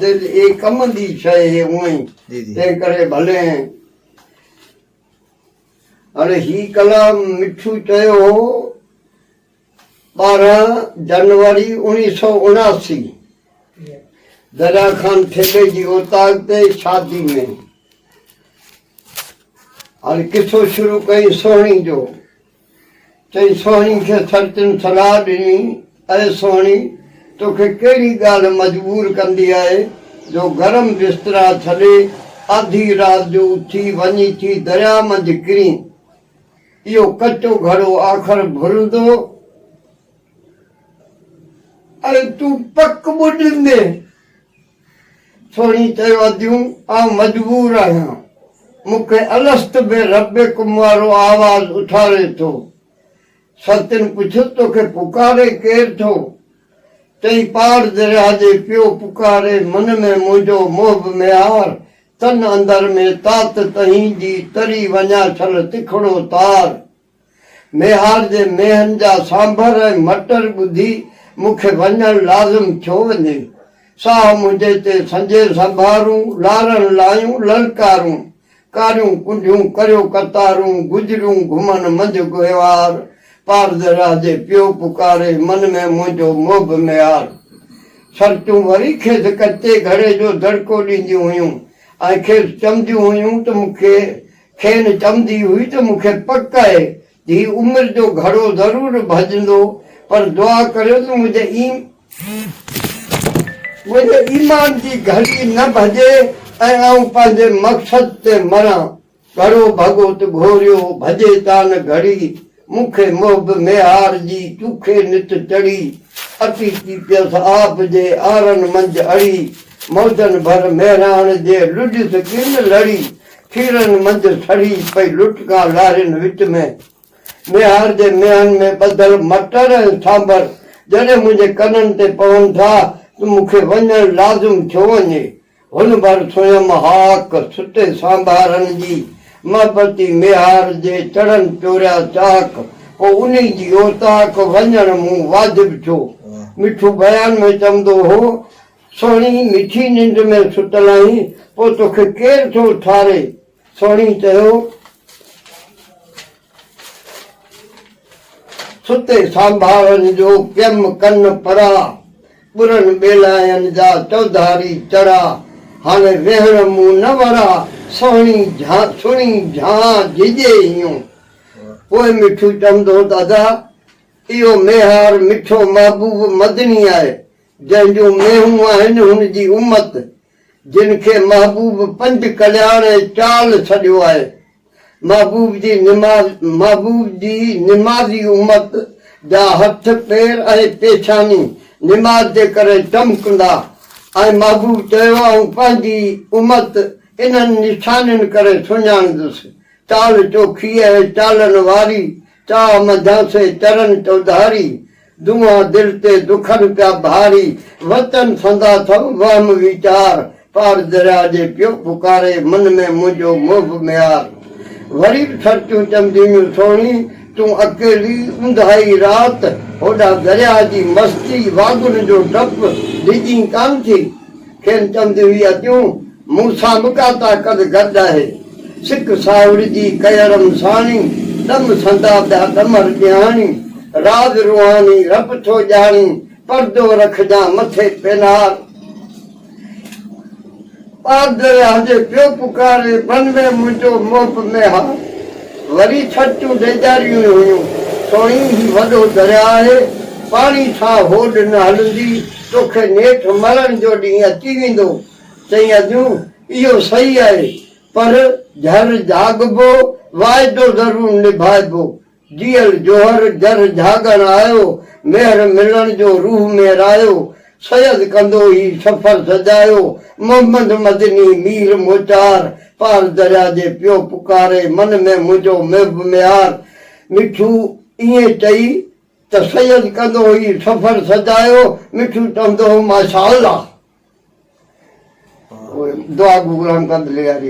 دل اي ڪم دي شئي هي اوئين تنهن ڪري ڀلين هاڻي هي ڪلام مٺو چيو هو ٻارهن جنوري اوڻيهه سؤ اڻاسي دريا خان ٺيڪي جي اوطاق تي شادي ۾ هاڻي قصو شروع ڪئين سهڻي جو چئي سهڻي کي سرتين صلاح ڏني، اي سهڻي! توکي ڪهڙي ڳالهه مجبور ڪندي آهي جو گرم بسترا ڇڏي آڌي رات جو اٿي وڃي ٿي درياء منجهه ڪرين؟ اهو ڪچو گهڙو آخر ڀرندو ۽ تون پڪ ٻڏيندين. سهڻي چيو اديون آئون مجبور آهيان مون کي الست بربڪم وارو آواز اٿاري ٿو ستين پڇيو توکي پڪاري ڪير ٿو چئي پار درياهه جي پيو پڪاري من ۾ منهنجو محب ميار تن اندر ۾ تات تهين جي تري وڃان ڇل تکڙو تار. ميهار جي مينهن جا سانڀر ۽ مٽر ٻڌي مون کي وڃڻ لازم ٿيو وڃي. ساهه منهنجي تي سنجي سنڀارون، لارڻ لايون للڪارون، ڪاريون ڪنڍيون ڪريو قطارون، گجريون گهمن منجهه گهيوار، پار درياهه جي پيو پڪاري، من ۾ منهنجو محب ميهار. سرتيون وري کيس ڪچي گهڙي جو دڙڪو ڏينديون هيون ۽ کيس چونديون هيون ته مون کي کين چوندي هئي ته مون کي پڪ آهي ته هي عمر جو گهڙو ضرور ڀڄندو پر دعا ڪريو ته منهنجي ايمان جي گهڙي نه ڀڄي ۽ آئون پنهنجي مقصد تي مران. گهڙو ڀڳو ته گهوريو، ڀڄي تان گهڙي. مون کي محب ميهار جي چوکي نت چڙهي، اچي ٿي پيس آب جي آرن منجهه اڙي، موجن ڀر مهراڻ جي لڏيس ڪن لڙي، کيرن منجهه سڙهي پئي لٽڪان لارين وچ ۾، ميهار جي ميهن ۾ ٻڌل مٽر ۽ سانڀر جڏهن منهنجي ڪنن تي پون ٿا ته مون کي وڃڻ لازم ٿيو وڃي، هن ڀر سويم هاڪ سٽي سانڀارن جي محبتي ميهار جي چڙهن چوريا چاڪ پو انهي جي اوطاق وڃڻ مون واجب ڇو؟ مٺو بيان ۾ چوندو هو، سهڻي مٺي ننڊ ۾ ستل آهين پو توکي ڪير ٿو اٿاري؟ سهڻي چيو، ستي سانڀاهن جو پيم ڪن پرا، ٻرن ٻيلاين جا چوڌاري چرا، هاڻي ويهڻ مون نه ورا، سهڻي جهان سڻي جهان جهڄي هيون. پوء مٺو چوندو ته ادا اهو ميهار مٺو محبوب مدني آهي، جنهن جون مينهون آهن هن جي امت جن کي محبوب پنج ڪلياڻ ۽ چال سڏيو آهي. محبوب جي نماز، محبوب جي نمازي امت جا هٿ، پير ۽ پيشاني نماز جي ڪري چمڪندا ۽ محبوب چيو آئون پنهنجي امت انهن نشانين ڪري سڃاڻيندس، چال چوکي ۽ چالن واري چاهه منجهان سي چرن چوڌاري، دونها دل تي دکن پيا ڀاري، وچن سندا ٿم وهم ويچار، پار درياء جي پيو پڪاري، من ۾ منهنجو محب ميار، وري به سرچون چندينيون سهڻي، تون اڪيلي اونداهي رات، هوڏانهن درياء جي مستي، واڳن جو ڊپ ڊڄين ڪانه ٿي، کين چونديون هي اتيون، مون سان به ڪا طاقت گڏ آهي. سڪ ساهوڙي جي ڪيئڙم ساڻي، ڏم سندا ٻيا ڏمر ڏيهاڻي. راز روحاني رب ٿو ڄاڻي، پردو رکجان مٿي پينار. پار درياهه جي پيو پڪاري، بن ۾ منهنجو محب ميهار. وري ڇٽيون ڊيڄاريون هيون، سوڻي هي وڏو درياهه آهي، پاڻي سان هوڏ نه هلندي. توکي نيٺ مرڻ جو ڏينهن اچي ويندو. چئي اديون، اهو صحيح آهي، پر جهر جهاڳبو، واعدو ضرور نڀائبو. جيئل جوهر جر جهاڳڻ آيو، مهر ملڻ جو روح مهرايو. سيد ڪندو هي سفر سجايو، محمد مدني مير موچار. پار دريا جي پيو پڪاري، من ۾ منهنجو محب ميار. مٺو ائين چئي ته سيد ڪندو هو هي سفر سجايو، مٺو چوندو هو ماشاءالله. دعا گو غلام قادر لياري.